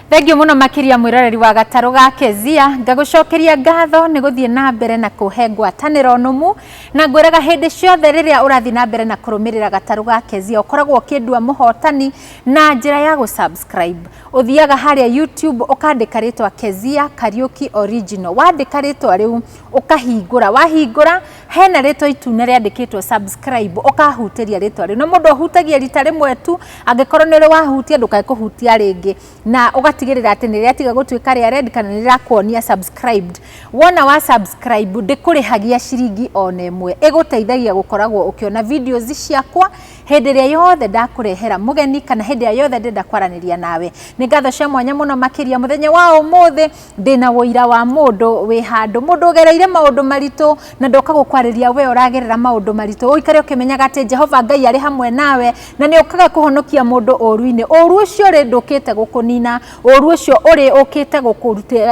Thengio muno makiria mwiroreri wa gataru ga Kezia ngagucokeria ngatho ni guthie na mbere na kuhe ngwataniro numu na ngwiraga hindi ciothe riria urathie na mbere na kurumirira gataru ga Kezia ukoragwo ukindua muhotani na njira ya gu subscribe uthiaga haria YouTube ukandika ritwa Kezia Kariuki original wandika ritwa riu ukahingura wahingura hena rĩtwa itune rĩandĩkĩtwo subscribe ũkahutĩria rĩtwa rĩu na mũndũ ahutagia rita rĩmwe tu angĩkorwo nĩ ũrĩ wahutia ndũkae kũhutia rĩngĩ na ũgatigĩrĩra atĩ nĩ rĩatiga gũtuĩka rĩa red kana nĩ rĩrakuonia subscribed wona wa subscribe ndĩkũrĩhagia ciringi ona ĩmwe ĩgũteithagia gũkoragwo ũkĩona videos ciakwa hĩndĩ ĩrĩa yothe ndakũrehera mũgeni kana hĩndĩ ĩrĩa yothe ndĩrenda kwaranĩria nawe nĩ ngatho cia mwanya mũno makĩria mũthenya wa ũmũthĩ ndĩna ũira wa mũndũ wĩ handũ mũndũ ũgereire maũndũ maritũ na ndoka gũkwarĩria we ũragerera maũndũ maritũ ũikare ũkĩmenyaga atĩ jehova ngai arĩ hamwe nawe na nĩ ũkaga kũhonokia mũndũ ũru-inĩ ũru ũcio rĩ ndũkĩte gũkũnina ũru ũcio ũrĩ ũkĩte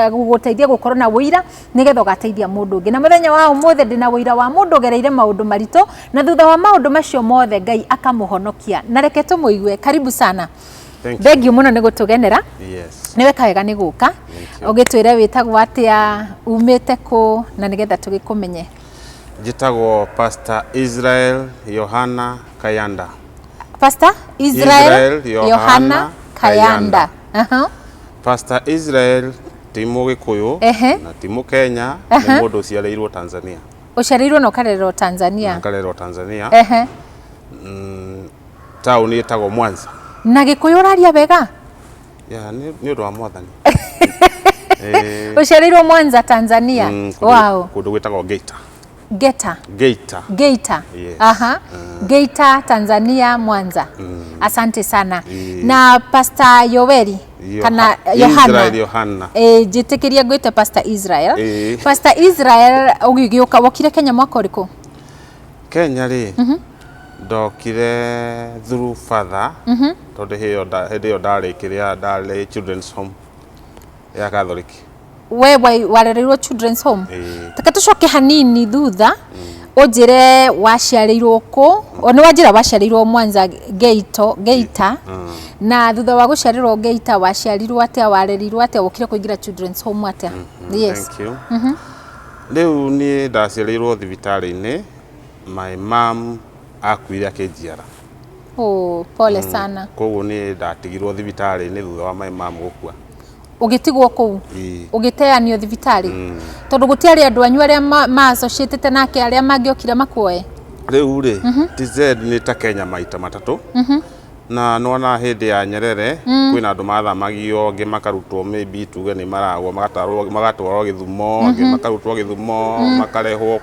gũgũteithia gũkorwo na ũira nĩgetha ũgateithia mũndũ ũngĩ na mũthenya wa ũmũthĩ ndĩna ũira wa mũndũ ũgereire maũndũ maritũ na thutha wa maũndũ macio mothe ngai akamũhonokia na reke tũmũigue karibu sana Thank you. thengiũ mũno nĩ gũtũgenera Yes. nĩ weka wega nĩ gũka Thank you. ũgĩtwĩre wĩtagwo atĩa umĩte kũ na nĩgetha tũgĩkũmenye Njĩtagwo Pastor Israel Yohana Kayanda. Pastor Israel, Israel Yohana Yohana Kayanda. Aha. Pastor Israel ti Mũgĩkũyũ Ehe. na ti Mũkenya, nĩ mũndũ ũciarĩirwo Tanzania. Ũciarĩirwo na ũkarererwo Tanzania. Akarerwo Tanzania. Ehe. Mm, taũni ĩtagwo Mwanza. Na Gĩkũyũ ũraria wega? Yeah, nĩ nĩ ũndũ wa mwathani. Eh, Ũciarĩirwo Mwanza, Tanzania? mm, kũndũ- Wow. Kũndũ gwĩtagwo Geita. Geta. Geita. Geita. Yes. Aha. Geita, Tanzania, Mwanza. Asante sana. Mm. Na Pastor Yoweri Yoha- kana Israel Yohana. Yohana. Eh, njĩtĩkĩria ngwĩte Pastor Israel. Eh. Pastor Israel ũgĩgĩũka wokire Kenya mwaka ũrĩkũ? Kenya rĩ. Ndokire through father mhm. tondũ hĩndĩ ĩyo ndarĩ kĩrĩa ndarĩ children's home ya Catholic. We warereirwo children's home? Taka tũcoke hanini thutha mm. ũnjĩre waciarĩirwo kũ nĩ wanjĩra waciarĩirwo Mwanza Geito Geita mm. na thutha wa gũciarĩrwo Geita waciarirwo atĩa warerirwo atĩa wokire kũingĩra children's home atĩa? Mm-hmm. Yes. Thank you. Mhm. Rĩu niĩ ndaciarĩirwo thibitarĩ-inĩ my mom akuire akĩnjiara oh, pole mm. sana koguo nĩ ndatigirwo thibitarĩ-inĩ thutha wa my mom gũkua ugitigwo kuu ugiteanio thibitari mm. tondu gutiari andu anyu aria ma associated nake aria mangiokire makuoe riu ri mhm. tz ni ta kenya maita matatu mhm. na nona hindi ya nyerere mm. kwina andu mathamagio ngi makarutwo maybe tuge ni maragwo magatwarwo githumo ngi mhm. makarutwo githumo mm. makarehwo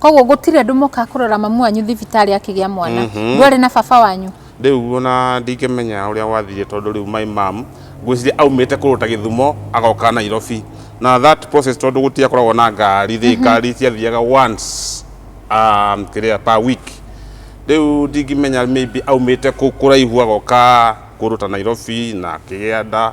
koguo gũtirĩ andũ moka kũrora mamu wanyu thibitarĩ akĩgĩa mwana Mhm. ndwarĩ na baba wanyu rĩu ona ndingĩmenya ũrĩa gwathiire tondũ rĩu my mam ngwĩciria aumĩte kũndũ ta gĩthumo agoka nairobi na that process tondũ gũtiakoragwo na ngari rĩ ngari ciathiaga once um, kĩrĩa per week rĩu ndingĩmenya maybe aumĩte kũ- kũraihu agoka kũndũ ta nairobi na akĩgĩa nda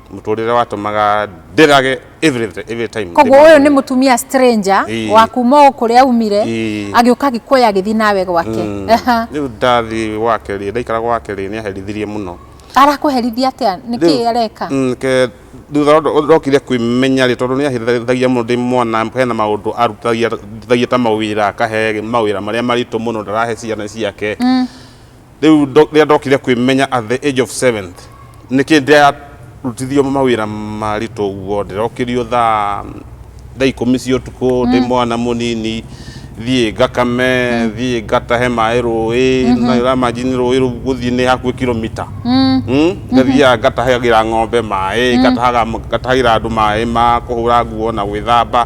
mũtũrĩre watũmaga ndĩrage every, every time koguo ũyũ nĩ mũtumia stranger Ii. wa kuma o kũrĩa umire Ii. agĩũka agĩkuoya agĩthiĩ nawe gwake Aha. rĩu ndathi gwake rĩ ndaikara gwake rĩ nĩ aherithirie mũno arakũherithia atĩa nĩ kĩ Rĩu- areka Mm, ke- thutha ndo- ndokire kwĩmenya rĩ tondũ nĩ ahĩthagia mũno ndĩ mwana hena maũndũ arutagia ta mawĩra akahe mawĩra marĩa maritũ mũno ndarahe ciana ciake Rĩu ndo- rĩrĩa ndokire kwĩmenya at the age of seventh nĩkĩ ndĩrarutithio mawĩra maritũ ũguo ndĩrokĩrio thaa thaa ikũmi cia ũtukũ ndĩ mwana mũnini thiĩ ngakame thiĩ ngatahe maĩ rũĩ na ũramajini rũĩ rũu gũthiĩ nĩ hakuhĩ kilomita Mm, ngathiaga ngatahagĩra ng'ombe maĩ ngatahaga- ngatahagĩra andũ maĩ ma kũhũra nguo na gwĩthamba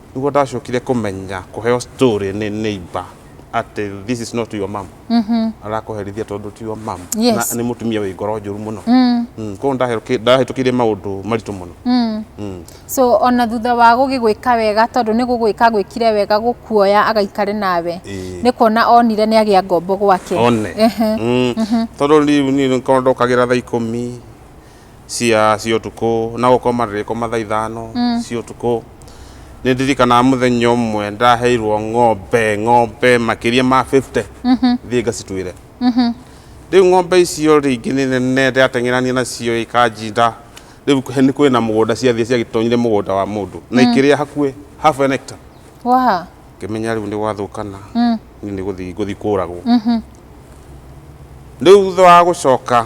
Nĩguo ndacokire kũmenya kũheo story nĩ neighbor atĩ this is not your mom. Arakũherithia tondũ ti your mom. Yes. Na nĩ mũtumia wĩ ngoro njũru mũno. Mm, Koguo ndaheruki- ndahĩtũkĩire maũndũ maritũ mũno. Mm. so ona thutha wa gũgĩgwĩka wega tondũ nĩ gũgwĩka gwĩkire wega gũkuoya agaikare nawe Ĩĩ. nĩ kuona onire nĩ agĩa ngombo gwake one Ehe. Mm. tondå rä u niä nä korwo ndokagä ra thaa ikå mi cia cia utuku na gukoma ndirikoma thaa ithano cia utuku ni ndirikanaga muthenya umwe ndaheirwo ng'ombe ng'ombe makiria ma 50 thiĩ ngacituĩre rĩu ng'ombe icio rĩngĩ nĩ nene ndateng'erania nacio ikanjinda rĩu he- nĩ kwĩna mũgũnda ciathiĩ ciagĩtonyire mũgũnda wa mũndũ na ikĩrĩa hakuĩ half an hectare Wa. ngĩmenya rĩu nĩ gwathũkana niĩ nĩ gũthiĩ ngũthiĩ kũragwo rĩu thutha wa gũcoka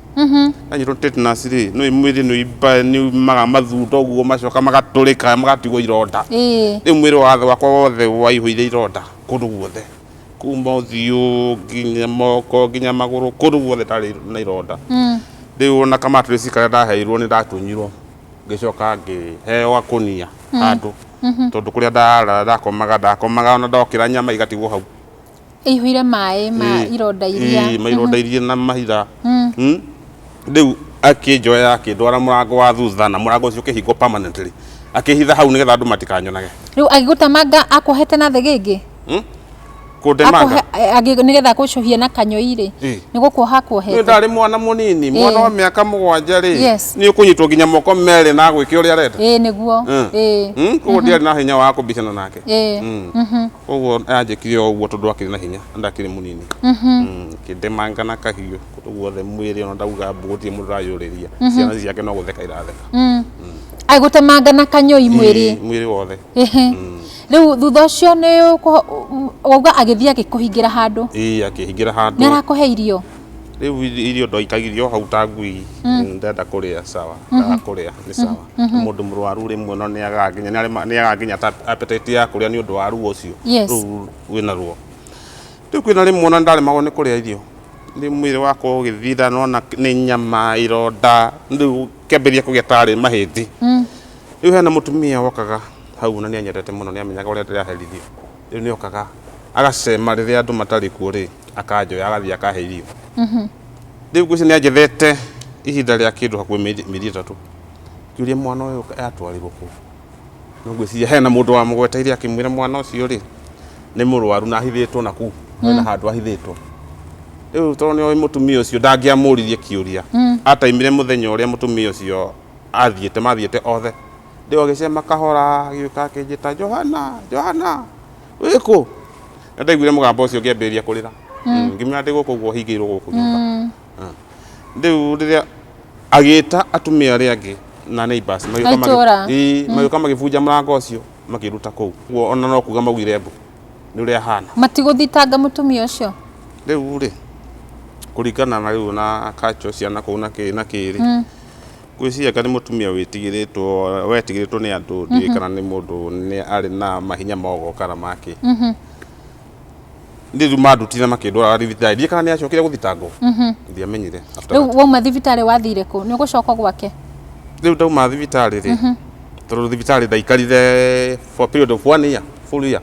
anyitwo tetanus rĩ no mwĩrĩ nĩ ũimba nĩ umaga mathunda ũguo macoka magatũrĩka magatigwo ironda Ĩĩ. rĩu mwĩrĩ wathe wakwa wothe waihũire ironda kũndũ guothe kuma ũthiũ nginya moko nginya magũrũ kũndũ guothe ndarĩ na ironda rĩu ona ka mattress karĩa ndaheirwo nĩ ndatunyirwo ngĩcoka ngĩheo gakũnia handũ tondũ kũrĩa ndarara ndakomaga ndakomaga ona ndokĩra nyama igatigwo hau ĩihũire maĩ ma Ĩĩ, ironda iria ĩĩ, maironda iria na mahitha Mm. rĩu akĩnjoya akĩndwara mũrango wa thutha na mũrango ũcio ũkĩhingwo permanently akĩhitha hau nĩgetha andũ matikanyonage rĩu agĩgũtemanga akũhete na thĩ gĩngĩ Mm? kũndemanga Akũhe- eh, agĩ- nĩgetha akũcuhie na kanyoi rĩ Ĩĩ. nĩ gũkuoha nĩ akuohete ndarĩ mwana mũnini mwana wa mĩaka mũgwanja rĩ Yes. nĩ ũkũnyitwo nginya moko merĩ na agwĩke ũrĩa arenda ĩĩ nĩguo Mm. ĩĩ Mm, koguo ndiarĩ na hinya wa kũmbicana nake ĩĩ Mm. Mhm. koguo anjĩkire o ũguo tondũ akĩrĩ na hinya na ndakĩrĩ mũnini Mm, ngĩndemanga na kahiũ kũndũ guothe mwĩrĩ ona ndauga mbu gũtirĩ mũndũ ũrayũrĩria ciana ici ciake no gũtheka iratheka Mm. agũtemanga na kanyũi mwĩrĩ Ii, mwĩrĩ wothe Ehe. rĩu thutha ũcio nĩ ũkũ- wauga agĩthiĩ agĩkũhingĩra handũ ii akĩhingĩra handũ nĩ arakũhe irio Rĩu irio ndoikagithio hau ta ngui mm. ndenda kũrĩa sawa mm-hmm. ndaga kũrĩa nĩ mm-hmm. sawa mm-hmm. mũndũ mũrwaru rĩmwe no nĩagakinya nĩagakinya ta appetite ya kũrĩa nĩ ũndũ wa ruo ũcio rĩu wĩna ruo rĩu kwĩna rĩmwe ona ndaremagwo nĩ kũrĩa irio nĩ mwĩrĩ wakwa ũgĩthira nona nĩ nyama ironda rĩu kĩambĩrĩria kũgĩa tarĩ mahĩndĩ mm. rĩu hena mũtumia wokaga hau na nĩanyendete mũno nĩamenyaga ũrĩa ndĩraherithio rĩu nĩ okaga agacema rĩrĩa andũ matarĩ kuo rĩ akanjoya agathiĩ akahe irio mhm. rĩu ngwĩci nĩ anjethete ihinda rĩa kĩndũ hakuhĩ mĩeri ĩtatũ ngĩũria mwana ũyũ atwarĩrwo kũ no ngwĩciria hena mũndũ wamũgweteire akĩmwĩra mwana ũcio rĩ nĩ mũrwaru na ahithĩtwo na kuu na mm. handũ ahithĩtwo rĩu tondũ nĩoĩ mũtumia ũcio ndangĩamũririe kĩũria mm. ataimire mũthenya ũrĩa mũtumia ũcio athiĩte mathiĩte othe Rĩu agĩcema kahora agĩũka akĩnjĩta Johana, Johana, wĩkũ? Na ndaiguire mũgambo ũcio ngĩambĩrĩria kũrĩra. Mm. Mm, ngĩmwĩra ndĩ gũkũ ũguo hingĩirwo gũkũ nyũmba. Mm. Ah. Rĩu rĩrĩa agĩta atumia arĩa angĩ na neighbors magĩũka magĩbunja mũrango ũcio makĩruta kũu. Guo ona no kuga maugire mbu nĩ ũrĩa ahana. Matigũthitanga mũtumia ũcio? Rĩu rĩ, kũringana na rĩu na culture ciana kũu na kĩĩ na kĩĩ rĩ, mm. Ngwĩciria anga nĩ mũtumia wĩtigĩrĩtwo, wetigĩrĩtwo nĩ andũ, ndiũĩ kana nĩ mũndũ nĩ arĩ na mahinya ma ũgokara ma kĩ. Niĩ rĩu mandutire makĩndwara thibitarĩ, ndiũĩ kana nĩ acokire gũthitangwo, ndiamenyire. After Rĩu that. wauma thibitarĩ wathire kũ? Nĩ ũgũcoka gwake? Rĩu ndauma thibitarĩ rĩ, tondũ thibitarĩ ndaikarire for period of one year, full year.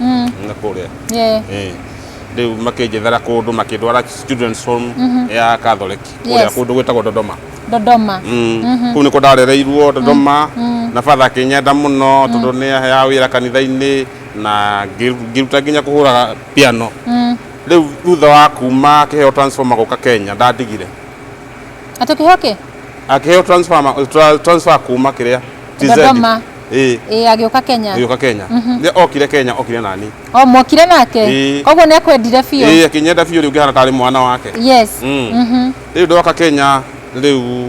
mm. na kuria yeah. eh riu makinjethera kundu makindwara students home mhm. ya catholic kuria kundu gwitagwo dodoma dodoma mm. mhm. kuu niko ndarereirwo dodoma mm. na father akinyenda muno tondu ni ya wira kanitha-ini na ngiruta nginya kuhuraga piano riu thutha wa kuma akiheo transformer guka kenya ndadigire atukihoke akiheo transformer transfer kuma kiria dodoma Ĩĩ. ĩ agĩũka kenya agĩũka kenya rĩrĩa okire kenya okire nani o mwokire nake Ĩĩ. koguo nĩ akwendire biũ ĩĩ akĩnyenda biũ rĩu ngĩhana tarĩ mwana wake yes Mm. Mhm. rĩu ndoka kenya rĩu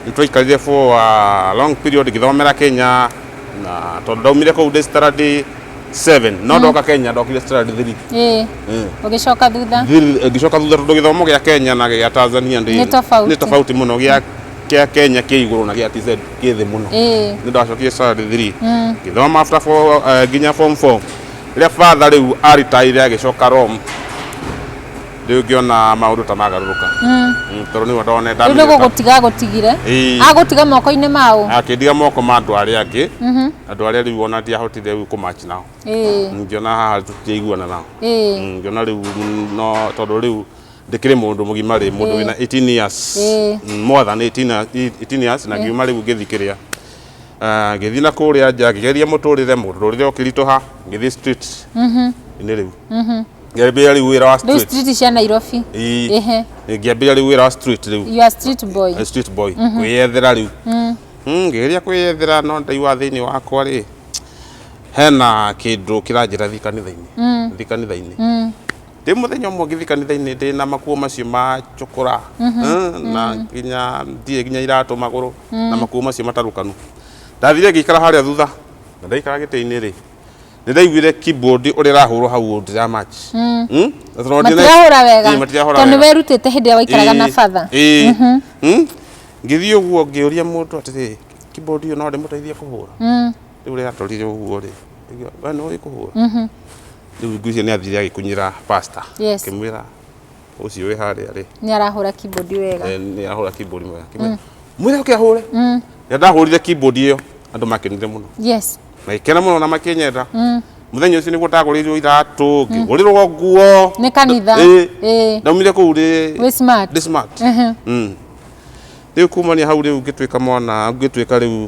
nĩtwaikarire for a long period ngĩthomera kenya na tondũ ndaumire kũu ndĩ standard 7 no ndoka kenya ndokire standard 3 ĩ Mm. ũgĩcoka thutha Thir- ngĩcoka thutha tondũ gĩthomo gĩa kenya na gĩa tanzania ndĩ- Nĩ tofauti. nĩ tofauti mũno gĩa kia Kenya kĩ igũrũ na gĩa TZ kĩ thĩ mũno Ĩĩ. nĩ ndacokie standard 3 ngĩthoma after fo- eh, nginya form 4 rĩrĩa father rĩu aritaire agĩcoka Rome rĩu ngĩona maũndũ ta magarũrũka Mm, tondũ nĩguo ndone rĩu nĩ gũgũtiga agũtigire Ĩĩ. agũtiga moko-inĩ maũ akĩndiga moko ma andũ arĩa angĩ andũ arĩa rĩu ona ndiahotire rĩu kũmachi nao Ĩĩ, ngĩona haha tũtiaiguana nao ĩĩ. Mm, ngĩona rĩu mm, no tondũ rĩu ndikiri mundu mugima ri mundu wina 18 years mm, more than 18 18 years na ngiuma riu ngithikiria ah, ngithi na kuria nja ngigeria muturire muturire ukirituha ngithi street mhm. ini riu mhm. ngiambia riu wira wa street street cia Nairobi ehe ngiambia riu wira wa street riu you are street boy a street boy mhm. kwiyethera riu mm. mm, ngigeria kwiyethera no ndaiwa thini wakwa ri hena kindu kiranjira thi kanitha-ini thi kanitha-ini Ndĩ mũthenya ũmwe ngĩthi kanitha-inĩ ndĩ na makuo macio ma cukura mm, na nginya ndirĩ nginya iratũ magũrũ na makuo macio matarũkanu ndathire ngĩikara harĩa thutha na ndaikara gĩtĩ-inĩ rĩ nĩ ndaiguire keyboard ũrĩa ĩrahũrwo hau ũũ ndira match mm. Mm? Na tondũ ndire- matirahũra wega Ĩĩ, matirahũra tondũ wega nĩwerutĩte hĩndĩ ĩrĩa waikaraga na Ĩĩ, batha ĩĩ. Mm? ngĩthiĩ ũguo ngĩũria mũndũ atĩrĩ keyboard ĩyo no ndĩmũteithie kũhũra Mm. rĩu rĩrĩa atorire ũguo-rĩ, akĩmwĩra, we nĩ ũĩ kũhũra? Rĩu ngwĩciria nĩ athire agĩkunyĩra pastor, Yes. akĩmwĩra ũcio wĩ harĩa-rĩ, Nĩ arahũra keyboard wega. eh, nĩ arahũra keyboard wega, akĩmwĩra mwĩre oke ahũre. Rĩrĩa ndahũrire keyboard ĩyo, andũ makenire mũno, Yes. magĩkena mũno na makĩnyenda. Mũthenya ũcio nĩguo ndagũrĩirwo iratũ, ngĩgũrĩrwo nguo. Nĩ kanitha. Ĩĩ. Ĩĩ. Ndaumire kũu ndĩ Wĩ smart. ndĩ smart. Mhm. Mm. Rĩu kumania hau rĩu ngĩtuĩka mwana, ngĩtuĩka rĩu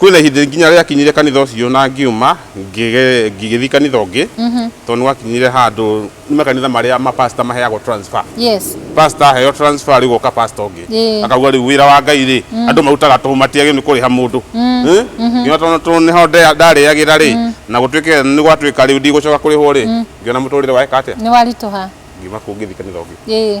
kwĩna ihinda rĩngĩ nginya rĩakinyire kanitha ũcio na ngiuma ngĩge- ngĩgĩthiĩ kanitha ũngĩ tondũ nĩgwakinyire handũ nĩ makanitha marĩa mapasta maheagwo transfer yes pasta aheo transfer rĩu goka pasta ũngĩ Ĩĩ. akauga rĩu wĩra wa ngai rĩ andũ marutaga tũhũ matiagĩrĩirwo nĩ kũrĩha mũndũ Eh? nginya tondũ tondũ nĩho nda- ndarĩagĩra rĩ na gũtuĩke nĩ gwatuĩka rĩu ndigũcoka kũrĩhwo rĩ ngiona mũtũrĩre waeka atĩa nĩ waritũha ngiuma kũu ngĩthiĩ kanitha ũngĩ ĩĩ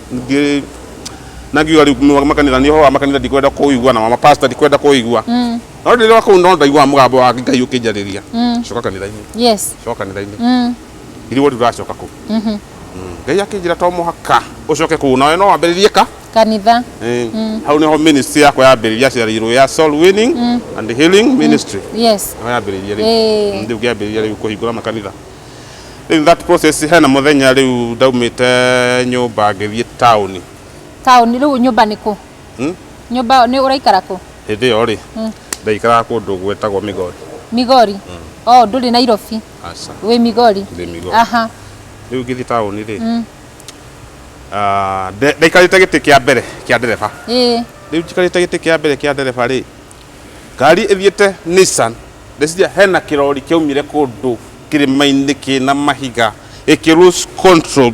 ngi nangiuga riu nwa makanitha ni ho makanitha ndikwenda kuigua na mapasta ndikwenda kuigua Mm. no ndiri wa kuu no ndaigua mugambo wa ngai ukinjariria Mm. coka kanitha-ini Yes. coka kanitha-ini Mm. iriwo riu racoka kuu Mhm. ngai akinjira to muhaka ucoke kuu nawe no wambiririe ka Kanitha. Eh, hau niho ministry yakwa yambiriria ciarirwo ya soul winning and healing ministry Yes. niho yambiriria riu Eh. ndi ngiambiriria riu kuhingura makanitha In that process hena mũthenya rĩu ndaumĩte nyũmba ngĩthiĩ taũni. Taũni rĩu nyũmba nĩ kũ? Hmm? Nyũmba nĩ ũraikara kũ? Hĩndĩ ĩyo rĩ, hmm. ndaikaraga kũndũ gwĩtagwo Migori. Migori? Hmm. Oh, ndũrĩ Nairobi? Aca. Wĩ Migori? Ndĩ Migori. Aha. Rĩu ngĩthiĩ taũni rĩ, hmm. ah, ndaikarĩte gĩtĩ kĩa mbere kĩa ndereba. Rĩu njikarĩte gĩtĩ kĩa mbere kĩa ndereba rĩ, Ngari ĩthiĩte Nissan, ndĩciria hena kĩrori kĩaumire kũndũ kĩrĩma-inĩ kĩna mahiga gĩkĩ lose control,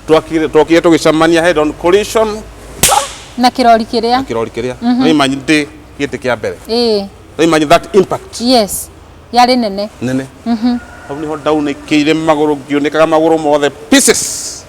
twakire twokire tũgĩcemania head on collision Na kĩrori na kĩrĩa. kĩrori kĩrĩa no imagine ndĩ gĩtĩ kĩa mbere Ĩĩ. no imagine that impact Yes. Yarĩ nene. nene hau nĩho ndaunĩkĩire magũrũ ngĩunĩkaga magũrũ mothe pieces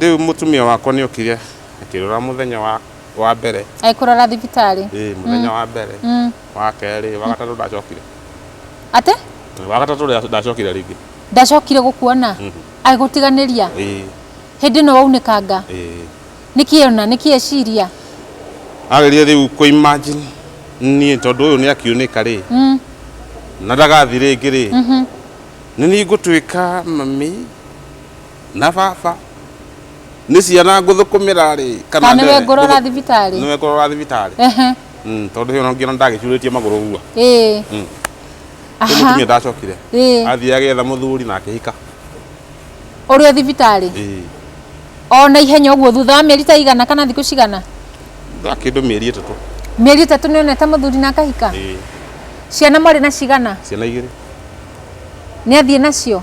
Rĩu mũtumia wakwa nĩ okire akĩrora mũthenya wa, wa mbere Ĩ, kũrora thibitarĩ ĩ mũthenya wa mbere Mm. wa kerĩ wa gatatũ ndacokire atĩ wa gatatũ nda- ndacokire rĩngĩ ndacokire gũkuona Mhm. agĩgũtiganĩria ĩ hĩndĩ ĩno waunĩkanga ĩ nĩkĩ ona nĩkĩ eciria ageria rĩu kũ imagine niĩ tondũ ũyũ nĩ akiunĩka rĩ Mm, na ndagathi rĩngĩ rĩ mhm. nĩ niĩ ngũtuĩka mami na baba nĩ ciana ngũthũkũmĩra rĩ Kana nĩwe ngũrora thibitarĩ? nĩwe ngũrora thibitarĩ Ehe. Mm, tondũ hĩo nongiona ndagĩcurĩtie magũrũ ũguo Ĩĩ. Mm. Aha. Rĩu mũtumia ndacokire Ĩĩ. athiĩ agĩetha mũthuri na akĩhika Ũrĩ o thibitarĩ? Ĩĩ. O na ihenya ũguo thutha wa mĩeri ta igana kana thikũ cigana? Thutha wa kĩndũ mĩeri ĩtatũ Mĩeri ĩtatũ nĩ onete mũthuri na akahika? Ĩĩ. Ciana mwarĩ na cigana? ciana igĩrĩ Nĩ athiĩ nacio?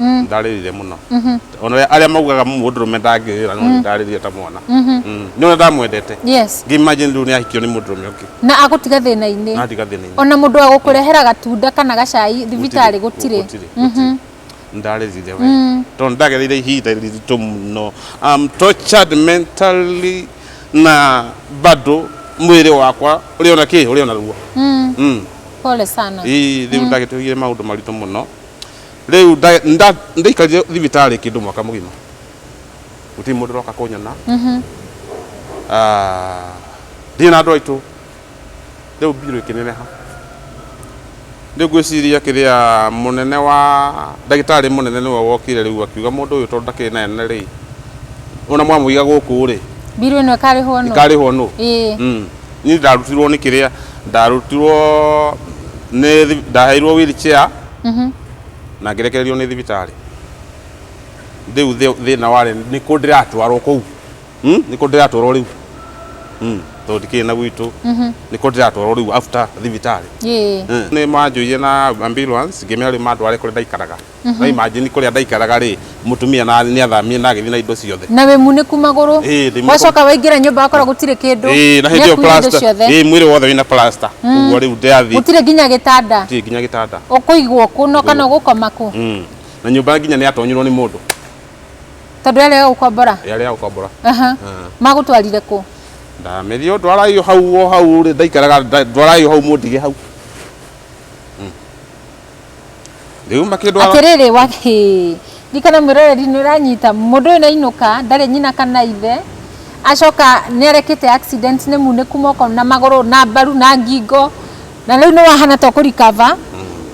Mm. ndarĩrire mũno Mhm. ona we- arĩa maugaga mũndũrũme ndangĩrĩra no ndarĩrire ta mwana Mhm. Mm. nĩ ũrĩa ndamwendete yes ngimagine rĩu nĩ ahikio nĩ mũndũrũme ũngĩ na agũtiga thĩna-inĩ natiga thĩna-inĩ ona mũndũ wa gũkũrehera gatunda kana gacai thibitarĩ gũtirĩ Mhm. ndarĩrire we Mm. tondũ ndagereire ihinda riritũ mũno I'm tortured mentally na bado mwĩrĩ wakwa ũrĩ ona kĩ ũrĩ ona ruo Mm. Mm. pole sana Ii, rĩu ndagĩtũgire maũndũ maritũ mũno Rĩu nda- nda- ndaikarire thibitarĩ kĩndũ mwaka mũgima gũtirĩ mũndũ ũroka kũnyona Ah, ndirĩ na andũ aitũ rĩu mbirũ ĩkĩneneha rĩu ngwĩciria kĩrĩa mũnene wa ndagĩtarĩ mũnene nĩwe wokire rĩu akiuga mũndũ ũyũ tondũ ndakĩrĩ na ene rĩ ona mwamũiga gũkũ rĩ Mbirũ ĩno ĩkarĩhwo nũ? ikarĩhwo nũ Ĩĩ. Mm. niĩ ndarutirwo nĩ kĩrĩa ndarutirwo nĩ thi- ndaheirwo wheelchair Mhm. na ngĩrekererio nĩ thibitarĩ rĩu thĩ- thĩna warĩ nĩ kũ ndĩratwarwo kũu Hmm? nĩ kũ ndĩratwarwo rĩu Hmm, tondũ ndikĩrĩ na gwitũ nĩ kũ ndĩratwarwo rĩu after thibitarĩ Yee. nä manjå na ambulance ngä mera rä mandware kå rä a ndaikaraga na imagine kå rä a ndaikaraga rä Mũtumia na nĩ athamire na agĩthiĩ na indo ciothe. Na wĩ munĩku magũrũ. Ĩĩ, ndĩ munĩku. Wacoka waingĩra nyũmba wakora gũtirĩ kĩndũ. Ĩĩ, na hĩndĩ ĩyo Nĩakuire indo plaster. ciothe. Ĩĩ, mwĩrĩ wothe wĩna plaster. Ũguo rĩu ndĩrathiĩ. Gũtirĩ nginya gĩtanda. Gũtirĩ nginya gĩtanda. Ũkũigwo kũ no kana ũgũkoma kũ? Mm. Na nyũmba nginya nĩ yatonyirwo nĩ mũndũ. Tondũ yarĩ ya gũkombora. Yarĩ ya gũkombora. Aha. Ah. Magũtwarire kũ? Ndamerie o ndwarai o hau o hau rĩ ndaikaraga nda- ndwarai o hau mũndige hau. Rĩu makĩndwara atĩrĩrĩ wa hĩ ndikana mwĩroreri nĩ ũranyita mũndũ ũyũ nainũka ndarĩ nyina kana ithe acoka nĩ arekĩte accident nĩ munĩku moko na magũrũ na mbaru na ngingo na rĩu nĩ wahana to kũrikava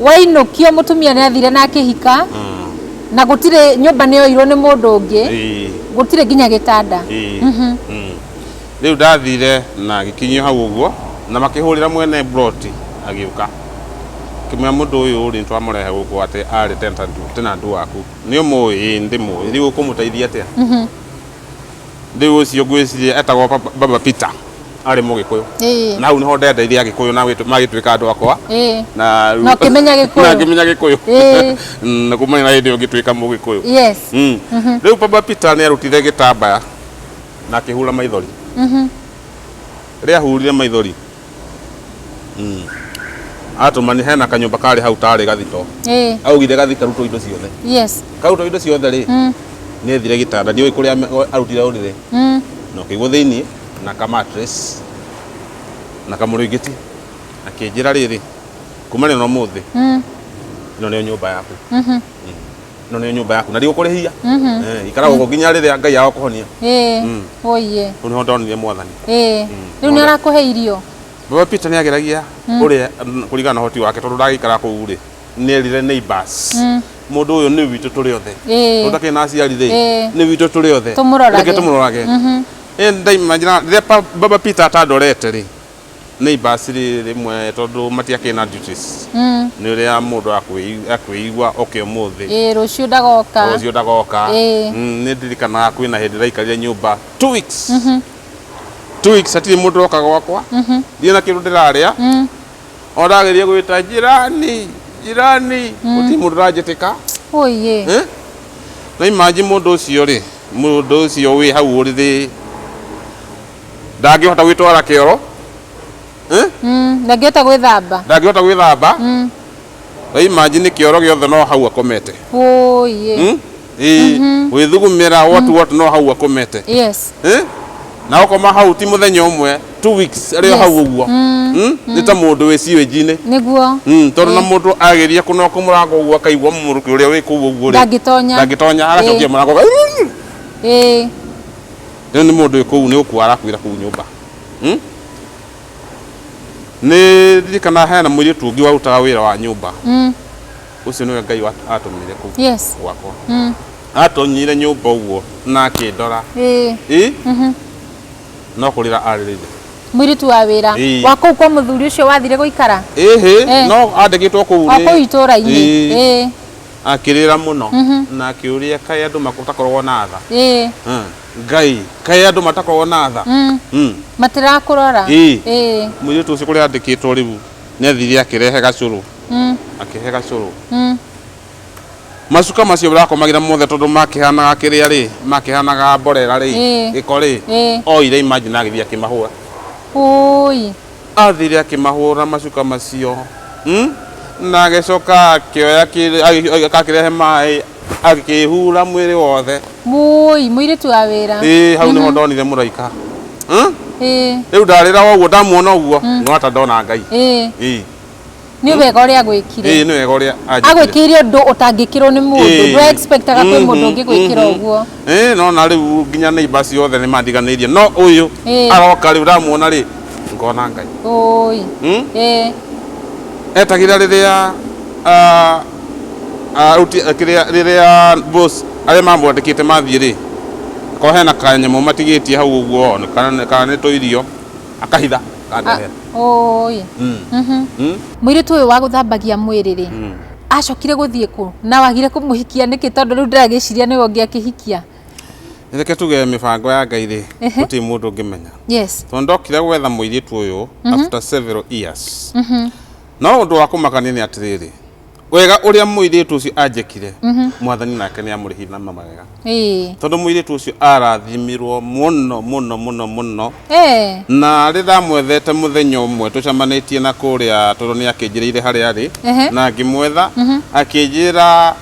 wainũkio mũtumia nĩ athire na akĩhika na gũtirĩ nyũmba nĩ yoirwo nĩ mũndũ ũngĩ ĩĩ, gũtirĩ nginya gĩtanda ĩĩ, mm. Rĩu ndathire na agĩkinyio hau ũguo, na makĩhũrĩra mwene mburoti agĩũka. Akĩmwĩra mũndũ ũyũ rĩ, nĩtwamũrehe gũkũ atĩ arĩ tenant- tenant waku. Nĩũmũĩ? Ĩĩ nĩndĩmũĩ. Rĩu ũkũmũteithia atĩa? Rĩu ũcio ngwĩciria etagwo Baba- Baba Peter, arĩ Mũgĩkũyũ. Ĩĩ. Na hau nĩho ndendeithia Agĩkũyũ na gwĩtũ- magĩtuĩka andũ akwa. Ĩĩ. Na rĩu- Na ũkĩmenya Gĩkũyũ. Na ngĩmenya Gĩkũyũ. Ĩĩ. Mm, Na kumania na hĩndĩ ĩyo ngĩtuĩka Mũgĩkũyũ. Yes. Mm. Rĩu Baba Peter nĩarutire gĩtambaya. na akĩhura maithori rĩa hurire maithori mm. atũma nĩ hena kanyũmba karĩ hau tarĩ gathito Eh, augire gathi karutwo indo ciothe yes karutwo indo ciothe rĩ Mm, nĩ thire gĩtanda ndiũĩ kũrĩa ame- o- arutire ũrĩrĩ mm. na ũkĩigwo thĩinĩ na ka mattress na kamũrĩngĩti akĩnjĩra rĩrĩ kuma nĩ no mũthĩ Mm, ĩno nĩyo nyũmba yaku mhm. ĩno nĩyo nyũmba yaku na ndigũkũrĩhia Mhm. Eh, ikara gũkũ nginya rĩrĩa ngai agakũhonia Ĩĩ. Mm. Ũiye. rĩu nĩho ndonire mwathani Ĩĩ. Mm. Rĩu nĩ arakũhe irio. baba peter nĩ ageragia ũrĩa mm, kũringana na ũhoti wake tondũ ndagĩikara kũu rĩ nĩ erire neighbors Mm. mũndũ ũyũ nĩ witũ tũrĩ othe Ĩĩ. ũtakĩrĩ na aciari rĩ Ĩĩ. nĩ witũ tũrĩ othe Tũmũrorage. Reke tũmũrorage Mhm. Eh, ndaima njĩra- rĩrĩa pa- baba peter atandorete rĩ nĩ ibacĩrĩ rĩmwe tondũ matiakĩrĩ na duties Mm. nĩ ũrĩa mũndũ akwĩi- akwĩigua oke ũmũthĩ Ĩĩ, rũciũ ndagoka rũciũ ndagoka Ĩĩ. Mm, nĩ ndirikanaga kwĩ na hĩndĩ ndaikarire nyũmba two weeks two weeks hatirĩ mũndũ woka gwakwa ndirĩ na kĩndũ ndĩrarĩa Mm. o ndagĩrire gwĩta jirani jirani gũtirĩ mũndũ ũranjĩtĩka ũiĩ Eh? na imanji mũndũ ũcio rĩ mũndũ ũcio wĩ hau ũrĩrĩ ndangĩhota gwĩtwara kĩoro eh? Mm, ndangĩhota gwĩthamba ndangĩhota gwĩthamba Mm, na imagine kĩoro gĩothe no hau akomete ũiĩ Hmm? Ĩĩ, gwĩthugumĩra what what no hau akomete yes Eh? na ũkoma hau ti mũthenya ũmwe two weeks arĩ o Yes. hau ũguo Hmm? nĩ ta mũndũ wĩ siwĩnji-inĩ nĩguo Mm, tondå na må ndå ageria kå noka må rango å guo akaigua må rå kä å rä a wä kå u å guo Ndangĩtonya. ndangä tonya agacokia Ĩĩ. må rango ĩĩ Rĩu nĩ mũndũ wĩ kũu nĩ gũkua arakuĩra kũu nyũmba. Hmm? Nĩ ndirikana hena mũirĩtu ũngĩ warutaga wĩra wa nyũmba. Mm. Ũcio nĩwe Ngai wat- atũmire kũu Yes. gwakwa. Mm. Atonyire nyũmba ũguo na akĩndora. Ĩĩ. Ĩ? No kũrĩra arĩrĩire. Mũirĩtu wa wĩra. Ĩĩ. Wa kũu kwa mũthuri ũcio wathire gũikara. Ĩhĩ, Eh. no andĩkĩtwo kũu O nĩ- kũu itũũra-inĩ. Ĩĩ. Ĩĩ. Akĩrĩra mũno na akĩũria kaĩ andũ matakoragwo na tha. Ĩĩ. Ah, Ngai, kaĩ andũ matakoragwo na tha. Mm. Mm. Matirakũrora. Ĩĩ. Ĩĩ. Mũirĩtu ũcio kũrĩa andĩkĩtwo rĩu nĩ athire akĩrehe gacũrũ. Mm. Akĩhe gacũrũ. Mm. Macuka macio ũrakomagĩra mothe tondũ makĩhanaga kĩrĩa rĩ, makĩhanaga mborera rĩ, Ĩĩ. gĩko rĩ, Ĩĩ. oire imagine agĩthiĩ akĩmahũra. Ũũi. Aathire akĩmahũũra macuka macio, na agĩcoka akĩoya kĩndũ agakĩrehe maĩ agĩkĩĩhura mwĩrĩ wothe. Mũũi, mũirĩtu wa wĩra. Ĩ, hau nĩho ndonire mũraika. Ĩ. Rĩu ndarĩra o ũguo, ndamuona ũguo, ngona ta ndona Ngai. Ĩ. Ĩ. nĩ wega ũrĩa agwĩkire ĩĩ nĩ wega ũrĩa anjĩkire. agwĩkĩire ũndũ ũtangĩkĩrwo nĩ mũndũ Ĩĩ. ndwe expectaga kwĩ Mhm, mũndũ ũngĩgwĩkĩra mhm. ũguo Ĩĩ, no na rĩu nginya neighbor ciothe nĩ mandiganĩirie no ũyũ Ĩĩ. aroka rĩu ndamuona rĩ ngona ngai ũi Hmm? ĩĩ etagĩrĩra rĩrĩa ah, ah, ruti- eh, kĩrĩa rĩrĩa boss arĩa mamwandĩkĩte mathiĩ rĩ ko hena kanyamũ matigĩtie hau ũguo nĩ kana- kana nĩ tũirio akahitha kandehe Oi. Mm. Mhm. Mm. Mũirĩtu ũyũ wa gũthambagia mwĩrĩ rĩ, Mm. acokire gũthiĩ kũ? Na wagire kũmũhikia nĩkĩ tondũ rĩu ndĩragĩciria nĩwe ũngĩ akĩhikia. reke tuge mĩbango ya ngai rĩ Ehe. gũtirĩ mũndũ ũngĩmenya Yes. tondũ ndokire gwetha mũirĩtu ũyũ after several years no ũndũ wa kũmakania nĩ atĩrĩrĩ wega ũrĩa mũirĩtu ũcio anjĩkire mhm. mwathani nake nĩ amũrĩhire na mawega tondũ mũirĩtu ũcio arathimirwo mũno mũno mũno mũno na rĩ ndamwethete mũthenya ũmwe tũcamanĩtie na kũrĩa tondũ nĩ akĩnjĩrĩire harĩa arĩ na ngĩmwetha mhm. akĩnjĩra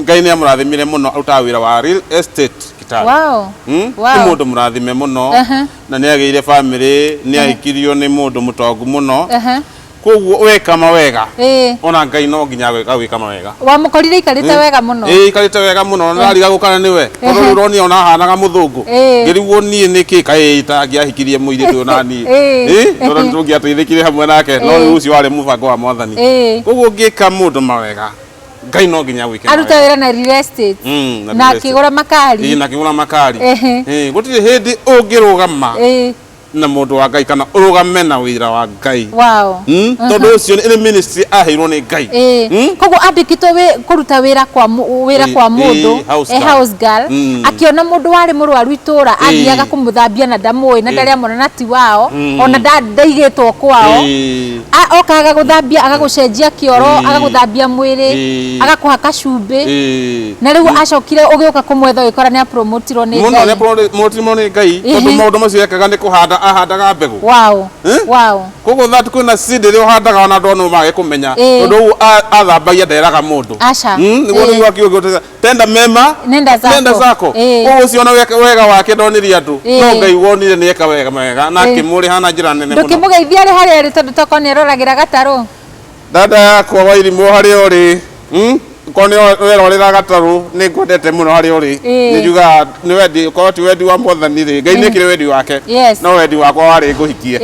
ngai nĩ amũrathimire mũno arutaga wĩra wa real estate kitabu wow. hmm? wow. nĩ mũndũ mũrathime mũno uh -huh. na nĩ agĩire bamĩrĩ nĩ ahikirio nĩ mũndũ mũtongu mũno uh -huh koguo weka mawega Ĩĩ. ona ngai no nginya agwĩ- agwĩka mawega wamũkorire aikarĩte wega mũno ĩĩ ikarĩte wega mũno nariga gũkana nĩwe tondũ Ehe. rĩu ũronia ona hanaga mũthũngũ Ĩĩ. ngĩrigwo niĩ nĩkĩ kaĩ itangĩahikirie mũirĩtu ũyũ naniĩ Ĩĩ. Ĩĩ, tondũ nĩ tũngĩateithĩkire hamwe nake no Ĩĩ. rĩu ũcio warĩ mũbango wa mwathani Ĩĩ. koguo ngĩka mũndũ mawega ngai no nginya agwĩke arute mawega. wĩra na real estate Mm, na real estate. akĩgũra makari Ĩĩ, na akĩgũra makari Ehe. Ĩĩ, gũtirĩ hĩndĩ ũngĩrũgama Ĩĩ. na mũndũ wa ngai kana ũrũgame na wĩra wa ngai wow. mm? tondũ ũcio nĩ ministry aheirwo nĩ ngai Eh, Mm? koguo andĩkitwo wĩ- kũruta wĩra kwa mũ- wĩra Eh, kwa eh, mũndũ house eh, girl. house girl Mm. akĩona mũndũ warĩ mũrwaru itũũra athiaga kũmũthambia na ndamũĩ na ndarĩ amona na ti wao Mm. ona nda- ndaigĩtwo kwao Eh, A- oka agagũthambia agagũcenjia kĩoro Eh. agagũthambia mwĩrĩ Eh. agakũhaka cumbĩ eh. na rä u acokire å gä å ka kå mwetha å gä kora nä a promotirwo nä Muona ngai ũrĩa mũtimũ nĩ ngai Ĩhĩ. tondũ maũndũ macio ekaga nĩ kũhanda ahandaga mbegũ Wow, Eh? wow. koguo that kwĩna seed ĩrĩa ũhandaga ona andũ anũ mage kũmenya Ĩĩ. tondũ ũguo a- athambagia nderaga mũndũ Aca. Mm, nĩguo Ĩĩ. nĩguo akiuga ũtesa- tenda mema Nenda zako. nenda zako Ĩĩ. koguo ũcio ona weka- wega wake ndonirie andũ Ĩĩ. no ngai wonire nĩ eka wega wega na Ĩĩ. akĩmũrĩha na njĩra nene ndå kä må mũno geithia arä harä arä tondå tokorwo nä aroragä ra gatarå Dada yakwa wairimũ harĩa ũrĩ hmm? korwo nĩ werorera gatarũ nĩ ngwendete mũno harĩa ũrĩ nĩ njugaga nĩ wendi korwo ti wendi wa mwathani rĩ ngai nĩ kĩrĩ wendi wake no wendi wakwa warĩ ngũhikie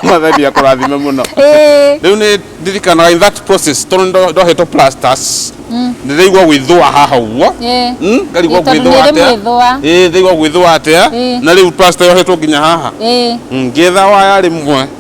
mwathani akũrathime mũno rĩu nĩ ndirikanaga in that process tondũ nĩ ndohetwo plasters hmm. nĩ ndaigua gwĩthũa haha ũguo hmm? ngarigwo gwĩthũa atĩa ndaigua gwĩthũa atĩa na rĩu plaster yohetwo nginya haha hmm, ngĩetha waya rĩmwe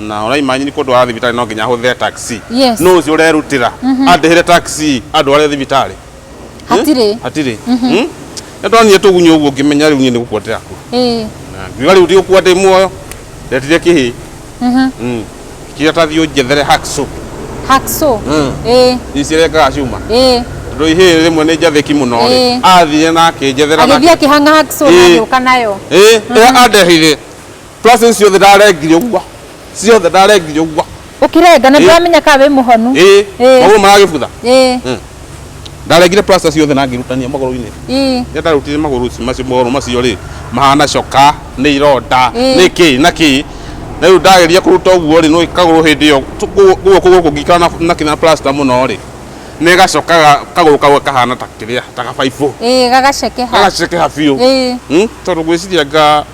na ũraima nyini kũndwara thibitarĩ no nginya hũthĩre taxi Yes. nũ ũcio ũrerutĩra andĩhĩre taxi andware thibitarĩ Hatirĩ. hatirĩ Mm? nĩ ndonire tũgunyũ ũguo ngĩmenya rĩu niĩ nĩ gũkua ndĩrakua Ĩĩ. Na ngiuga rĩu ndigũkua ndĩ muoyo ndetire kĩhĩ Mhm. Mm. kĩrĩa ta thiũ njethere hacksaw Hacksaw. Mm. Ĩĩ. ici rengaga cuma Ĩĩ. tondũ ihĩ rĩmwe nĩ njathĩki mũno rĩ Ĩĩ. athire na akĩnjethera na Agĩthiĩ akĩhang'a hacksaw na Ĩĩ. agĩũka nayo. Ĩĩ, ĩrĩa andehire Twacĩ ciothe ndarengire ũguo. Ciothe ndarengire ũguo. Ũkĩrenga na Ĩĩ. ndũramenya ka wĩ mũhonu. Ĩĩ. Ĩĩ. Magũrũ maragĩbutha. Ĩĩ. Mm. Ndarengire plaster ciothe na ngĩrutania magũrũ-inĩ. Ĩĩ. Rĩrĩa ndarutire magũrũ ici- macio- magũrũ macio rĩ, mahana coka, nĩ ironda, Ĩĩ. nĩ kĩ na kĩ. Na rĩu ndageria kũruta ũguo rĩ, nĩũĩ kagũrũ hĩndĩ ĩyo tũ- gũ- guoko gũkũ ngĩikara na- na kĩna plaster mũno rĩ, nĩ gacoka ga- kagũrũ kau kahana ta kĩrĩa, ta gabaibũ. Ĩĩ gagacekeha. Gagacekeha biũ. Ĩĩ. Mm, Tondũ ngwĩciria anga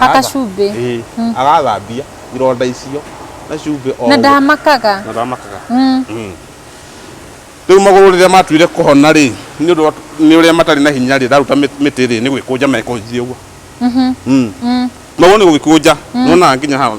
Hakacumbĩ. Ĩĩ, Mm. agathambia ironda icio na cumbĩ o na ũguo. ndamakaga Na ndamakaga Mm. Mm. rĩu magũrũ rĩrĩa matuire kũhona rĩ nĩ ũndũ wa- nĩ ũrĩa matarĩ na hinya rĩ ndaruta mĩ- mĩtĩ rĩ nĩ gwĩkũnja mekũnjie ũguo Mhm. Mm. Mm. magũrũ nĩ gũgĩkũnja nona nginya hau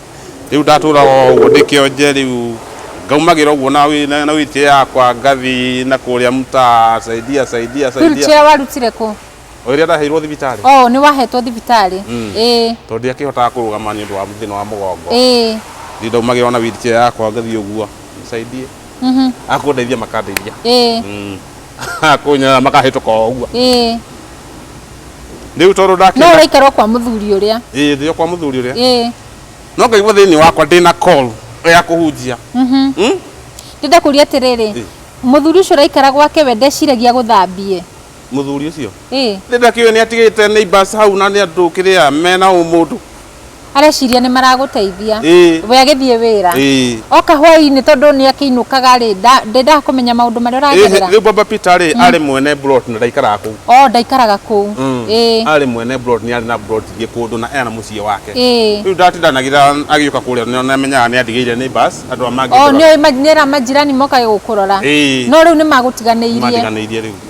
Rĩu ndatũũra o ũguo ndĩ kĩonje rĩu ngaumagĩra ũguo na wĩ- na na wheelchair yakwa ngathi na kũrĩa mtaa saidia saidia saidia Wheelchair warutire kũ? o ĩrĩa ndaheirwo thibitarĩ Oh, nĩ wahetwo thibitarĩ. Mm. Ĩĩ. tondũ ndiakĩhotaga kũrũgama nĩ ũndũ wa thĩna wa mũgongo Ĩĩ. rĩu ndaumagĩra o na wheelchair yakwa ngathi ũguo nisaidie Mhm. akũndeithia makandeithia Ĩĩ. Mm. akũnyarara makahĩtũka o ũguo Ĩĩ. rĩu tondũ no ndakĩona ũraikara o kwa mũthuri ũrĩa ĩĩ ndĩ o kwa mũthuri ũrĩa ĩĩ no ngaigua thĩinĩ wakwa ndĩ na call ya kũhunjia mhm. Hmm? ndĩrenda kũria atĩrĩrĩ Ĩ. mũthuri ũcio ũraikara gwake we ndeciragia gũthambie mũthuri ũcio ĩĩ ndĩ ndakĩũĩ nĩ atigĩte neighbors hau na nĩ andũ kĩrĩa mena ũmũndũ areciria nĩ maragũteithia Ĩĩ. we agĩthiĩ wĩra Ĩĩ. oka hwaĩ-inĩ tondũ nĩ akĩinũkaga rĩ nda- ndendaga kũmenya maũndũ marĩa ũragerera rä baba peter rä arä mwene plot na ndaikaraga kå o ndaikaraga kũu ĩĩ arä mwene plot nä arä na plot ingä kå ndå na ena må ciä wake ĩĩ rä u ndatindanagira agä å ka kå rä a nä amenyaga nä andigä ire nä andå a o mangä nĩ oĩ ma- nĩ ra majirani mokaga gũkũrora Ĩĩ. no rĩu nĩ magũtiganĩirie matiganä irie rä u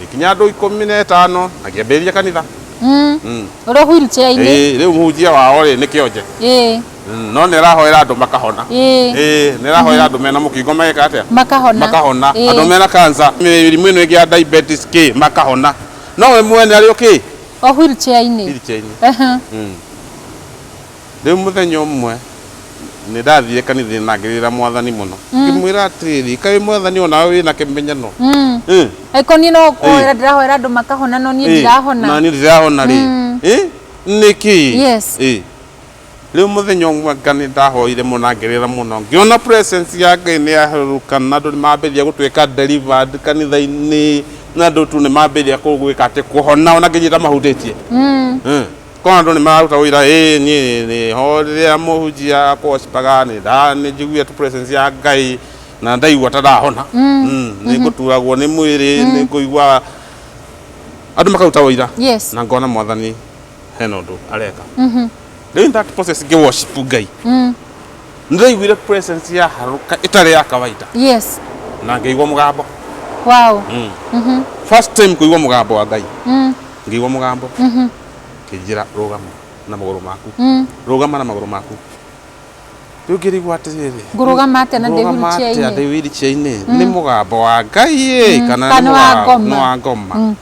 gĩkinya andũ ikũmi na ĩtano na kĩambĩrĩria kanitha Mm. Mm. Ũrĩ wheelchair-inĩ. Ĩĩ, rĩu mũhunjia wao rĩ nĩ kĩonje Ĩĩ. Mm, no nĩ arahoera andũ makahona Ĩĩ. Ĩĩ, nĩ arahoera andũ mena mũkingo mageka atĩa Makahona. makahona Ĩĩ. andå mena kansa mĩrimũ ĩno ĩngĩ ya diabetes kä makahona no we mwene arä o kä O wheelchair-inĩ. Wheelchair-inĩ. Ehe. Rĩu mũthenya ũmwe nĩ ndathiire kanitha-inĩ na ngĩrĩrĩra mwathani mũno ngĩmwĩra atĩrĩrĩ kaĩ mwathani o nawe wĩna kĩmenyano Ĩ, angĩkorwo niĩ no kũhoera Ĩ. ndĩrahoera andũ makahona no niĩ ĩ, ndirahona na niĩ ndirahona rĩ Ĩ, nĩkĩ Yes. Ĩ. rĩu mũthenya ũmwe nga nĩ ndahoire mũno na ngĩrĩra mũno ngĩona presence ya ngai nĩ yaherũrũka na andũ nĩ mambĩrĩria gũtuĩka delivered kanitha-inĩ na andũ tu nĩ mambĩrĩria kũ- gwĩka atĩ kũhona ona nginya iria itamahutĩtie Ĩ. Korwo andũ nĩ mararuta ũira, ĩĩ niĩ nĩ ho rĩrĩa mũhunjia akũgocipaga nĩ njiguĩte presence ya Ngai na nĩ ndaigua ta ndahona. Nĩ ngũturagwo nĩ mwĩrĩ, nĩ ngũigua andũ makaruta ũira na ngona Mwathani hena ũndũ areka. Rĩu in that process ngĩ worship Ngai, nĩ ndaiguire presence ya harũka ĩtarĩ ya kawaida na ngĩigua mũgambo. First time kũigua mũgambo wa Ngai. ngĩigua mũgambo kĩnjĩra rũgama na magũrũ maku rũgama na magũrũ maku rĩu ngĩrigwo atĩrĩrĩ Ngũrũgama atĩa na ndĩ ngũrũgama atĩa wheelchair-inĩ? ndĩ wheelchair-inĩ nĩ mũgambo wa ngai ĩ kana nĩ kana wa mũga- ngoma. nĩ wa ngoma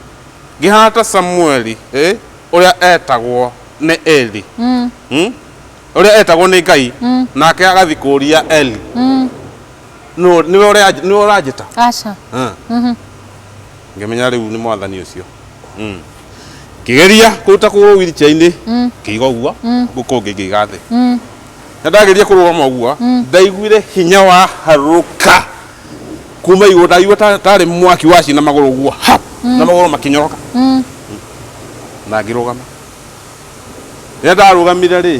ngĩhana ta samueli ĩ, ũrĩa etagwo nĩ eli Mm, Hmm? ũrĩa etagwo nĩ ngai nake agathi kũria eli mm, "Nũ- nĩwe ũrĩa- nĩwe ũranjĩta aca Huh? ngĩmenya rĩu nĩ mwathani ũcio Mm. ngĩgeria kũruta kũgũrũ wheelchair-inĩ ngĩiga ũguo guko ũngĩ ngĩiga thĩ Mm. na ndageria kũrũgama ũguo ndaiguire hinya wa harũka kuma igũrũ ndaigua ta- tarĩ mwaki wa cina magũrũ ũguo hap na magũrũ makĩnyoroka Mm. na ngĩrũgama rĩrĩa ndarũgamire rĩ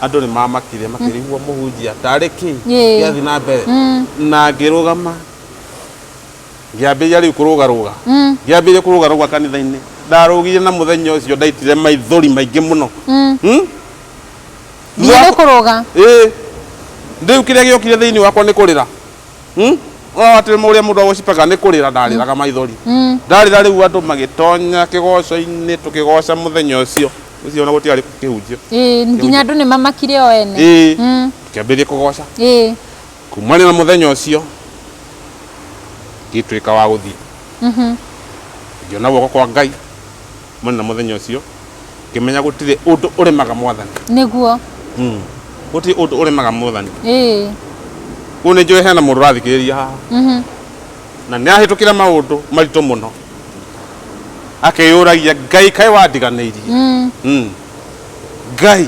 andũ nĩ mamakire makĩrigwo mũhunjia tarĩ kĩ Yee. gĩathiĩ na mbere Mm. na ngĩrũgama Ngĩambĩrĩria rĩu kũrũgarũga. Ngĩambĩrĩria kũrũgarũga kanitha-inĩ. Ndarũgire na mũthenya ũcio ndaitire maithori maingĩ mũno. Hmm? Thutha Nginya wa- nĩ kũrũga. Ĩĩ. Rĩu kĩrĩa gĩokire thĩinĩ wakwa nĩ kũrĩra. Hmm? Ũrona atĩ ũrĩa mũndũ agũcipaga nĩ kũrĩra ndarĩraga maithori. Ndarĩra rĩu andũ magĩtonya kĩgoco-inĩ tũkĩgoca mũthenya ũcio. Ũcio ona gũtiarĩ kũhunjio. Ĩĩ, nginya andũ nĩ mamakire o ene. Ĩĩ. Tũkĩambĩrĩria kũgoca. Ĩĩ. Kuumania na mũthenya ũcio ngĩtuĩka wa gũthiĩ ngĩona guoko kwa ngai mani na mũthenya ũcio ngĩmenya gũtirĩ ũndũ ũremaga mwathani nĩguo Mm. gũtirĩ ũndũ ũremaga mwathani ĩĩ rĩu nĩ njũĩ hena mũndũ ũrathikĩrĩria haha Mhm. na nĩ ahĩtũkĩra maũndũ maritũ mũno akĩyũragia ngai kaĩ wandiganĩirie Mm. Mm. ngai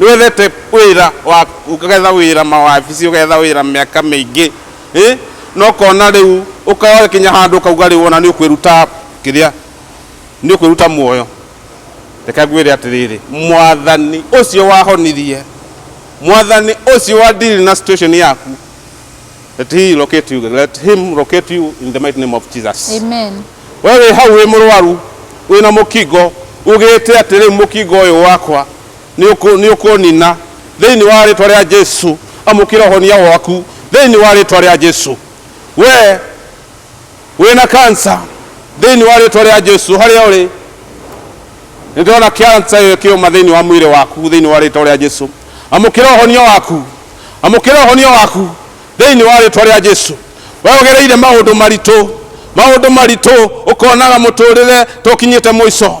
Nĩwethete wĩra wa ũgetha wĩra mawabici ũgetha wĩra mĩaka mĩingĩ ĩ na ũkona rĩu ũgakinya handũ ũkauga rĩu ona nĩũkwĩruta kĩrĩa nĩũkwĩruta muoyo. Reke ngwĩre atĩrĩrĩ mwathani ũcio wahonirie mwathani ũcio wa deal na situation yaku let he locate you let him locate you in the mighty name of Jesus. Amen. We wĩ hau wĩ mũrwaru wĩ na mũkingo ugĩte atĩrĩ mũkingo ũyũ wakwa nĩ ũkũnina thĩinĩ wa rĩtwa rĩa Jesu. Amũkĩra ũhonia waku thĩinĩ wa rĩtwa rĩa Jesu. We wĩna kansa thĩinĩ wa rĩtwa rĩa Jesu, harĩa ũrĩ nĩ ndĩrona kansa ĩyo ĩkĩũma thĩinĩ wa mwĩrĩ waku thĩinĩ wa rĩtwa rĩa Jesu. Amũkĩra ũhonia waku, amũkĩra ũhonia waku thĩinĩ wa rĩtwa rĩa Jesu. We ũgereire maũndũ maritũ, maũndũ maritũ, ũkonaga mũtũrĩre tũkinyĩte mũico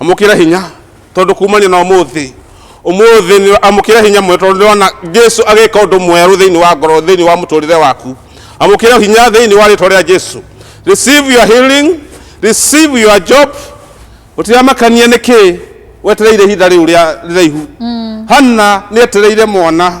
amũkĩra hinya tondũ kumania na ũmũthĩ ũmũthĩ nĩ- amũkĩra hinya mwe tondũ nĩwona jesu agĩka ũndũ mwerũ thĩinĩ wa ngoro thĩinĩ wa mũtũrĩre waku amũkĩra hinya thĩinĩ wa rĩtwa rĩa jesu receive your healing receive your job ũtiramakania nĩkĩ wetereire ihinda rĩu rĩa rĩraihu hanna nĩ etereire mwana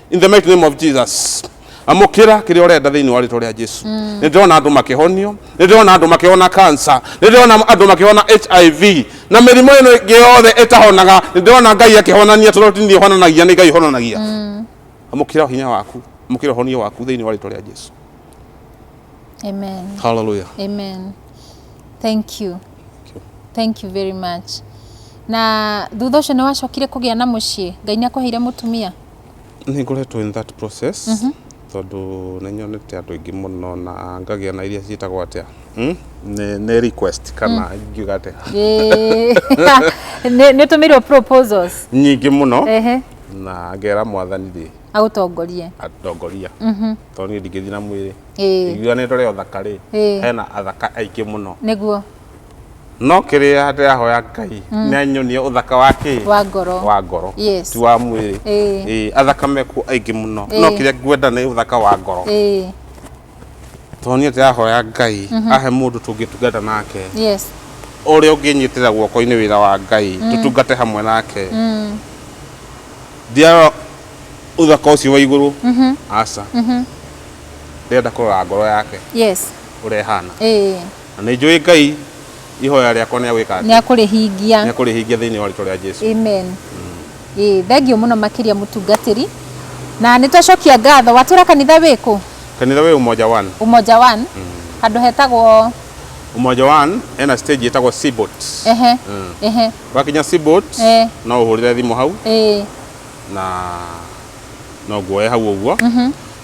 in the mighty name of jesus amukira kiri urenda thiini wa ritwa ria jesu mm. ni ndirona andu makihonio ni ndirona andu makihona cancer ni ndirona andu makihona hiv na mirimo ino ingi yothe itahonaga ni ndirona ngai akihonania tondu tini honanagia ni ngai honanagia mm. amukira hinya waku amukira honio waku thiini wa ritwa ria jesu amen hallelujah amen thank you thank you very much na thutha ũcio nĩ wacokire kũgĩa na mũciĩ ngai nĩ akũheire mũtumia Nĩ ngoretwo in that process mhm. tondũ nĩ nyonete andũ aingĩ mũno na ngagĩa na iria ciĩtagwo atĩa hmm? nĩ request kana hmm. ingiuga atĩa nĩ tũmĩirwo proposals nyingĩ mũno na ngera mwathani rĩ agũtongorie atongoria mhm. tondũ niĩ ndingĩthiĩ na mwĩrĩ iguanĩtwo rĩ othaka rĩ hena athaka aingĩ mũno nĩguo No kĩrĩa ndĩrahoya Ngai mm. nĩ anyonie ũthaka wa kĩ wa ngoro wa ngoro yes. ti wa mwĩrĩ eh. eh, athaka mekuo aingĩ mũno no eh. kĩrĩa ngwenda nĩ ũthaka wa ngoro tondũ niĩ ndĩrahoya Ngai mhm. ahe mũndũ tũngĩtungata nake yes. ũrĩa ũngĩnyitĩra guoko-inĩ wĩra wa Ngai mm. tũtungate hamwe nake mm. ndiarora uthaka ucio wa iguru mhm. aca mhm. ndenda kurora ngoro yake yes urehana eh Na nĩ njũĩ Ngai ihoya rĩakwa nĩ agwĩka atĩa? Nĩ akũrĩhingia. Nĩ akũrĩhingia thĩinĩ wa rĩtwa rĩa Jesu. Amen. Ĩĩ, thengiũ mũno makĩria mũtungatĩri. Na nĩ twacokia ngatho. Watwĩra kanitha wĩ kũ? Kanitha wĩ Umoja One. Umoja One. Handũ hetagwo? Umoja One ena stage ĩtagwo Seaboat. Ehe. Ehe. Wakinya Seaboat, Ee. no ũhũrĩre thimũ hau Ĩĩ. na no nguoye hau ũguo.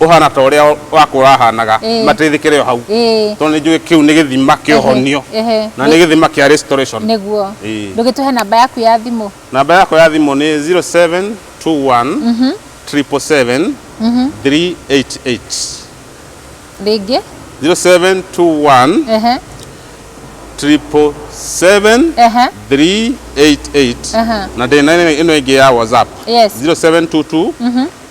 ũhana ta ũrĩa wakwa ũrahanaga Ĩĩ. mateithĩkĩre o hau Ĩĩ. tondũ nĩ njũĩ kĩu nĩ gĩthima kĩa Ehe, ũhonio ehe. na nĩ gĩthima kĩa restoration nĩguo Ĩĩ. ndũgĩtũhe namba yaku ya thimũ namba yakwa ya thimũ nĩ 0721 777 388 rĩngĩ 0721 ehe 777 ehe 388 Aha. na ndĩna ĩno ĩngĩ ya whatsapp Yes. 0722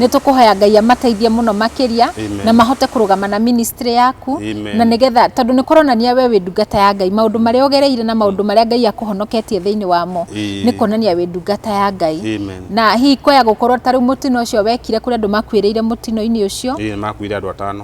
Nĩ tũkũhoya Ngai amateithie mũno makĩria Amen. na mahote kũrũgama na ministry yaku Amen. na nĩgetha tondũ nĩ kũronania we wĩ ndungata ya Ngai maũndũ marĩa ũgereire na maũndũ marĩa Ngai akũhonoketie thĩinĩ wamo Ĩĩ. nĩ kuonania wĩ ndungata ya Ngai Amen. na hihi kwaya gũkorwo ta rĩu mũtino ũcio wekire kũrĩ andũ makuĩrĩire mũtino-inĩ ũcio Ĩĩ, nĩ makuire andũ atano.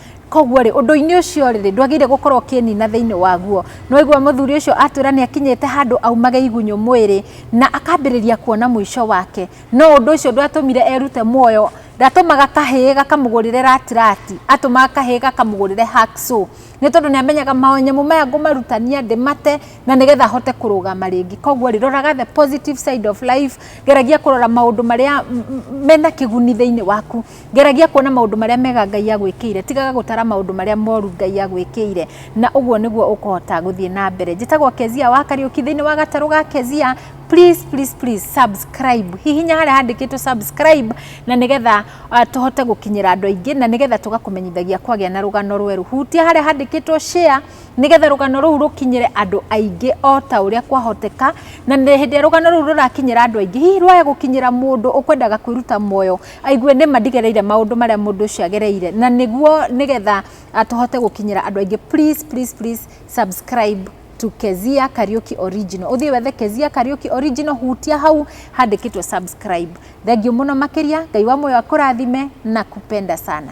koguo rĩ ũndũ-inĩ ũcio rĩ ndwagĩrĩire gũkorwo ũkĩnina thĩinĩ waguo nĩwaigua mũthuri ũcio atwĩra nĩ akinyĩte handũ aumage igunyũ mwĩrĩ na akambĩrĩria kuona mũico wake no ũndũ ũcio ndwatũmire erute muoyo ndatũmaga kahĩĩ gakamũgũrĩre ratirati atũmaga kahĩĩ gakamũgũrĩre hacksaw nĩ tondũ nĩ amenyaga manyamũ maya ngũmarutania ndĩmate na nĩgetha hote kũrũgama rĩngĩ koguo rĩ roraga the positive side of life geragia kũrora maũndũ marĩa mena kĩguni thĩinĩ waku Geragia kuona maũndũ marĩa mega Ngai agwĩkĩire, tigaga gũtara maũndũ marĩa moru Ngai agwĩkĩire, na ũguo nĩguo ũkũhota gũthiĩ na mbere. Njĩtagwo Kezia wa Kariũki thĩinĩ wa gatarũ ga Kezia. Please, please, please subscribe. Hihinya harĩa handĩkĩtwo subscribe na nĩgetha uh, tũhote gũkinyĩra andũ aingĩ na nĩgetha tũgakũmenyithagia kwagĩa na rũgano rwerũ. Hutia harĩa handĩkĩtwo share nĩgetha rũgano rũu rũkinyĩre andũ aingĩ o ta ũrĩa kwahoteka, na hĩndĩ ĩrĩa rũgano rũu rũrakinyĩra andũ aingĩ, hihi rwaya gũkinyĩra mũndũ ũkwendaga kwĩruta muoyo aigue nĩ ma ndigereire maũndũ marĩa mũndũ ũcio agereire na nĩguo nĩgetha tũhote gũkinyĩra andũ aingĩ please please please subscribe to Kezia Kariuki Original. Uthiĩ wethe Kezia Kariuki Original, hutia hau handĩkĩtwo subscribe. Thengiũ mũno makĩria, Ngai wa muoyo akũrathime na kupenda sana.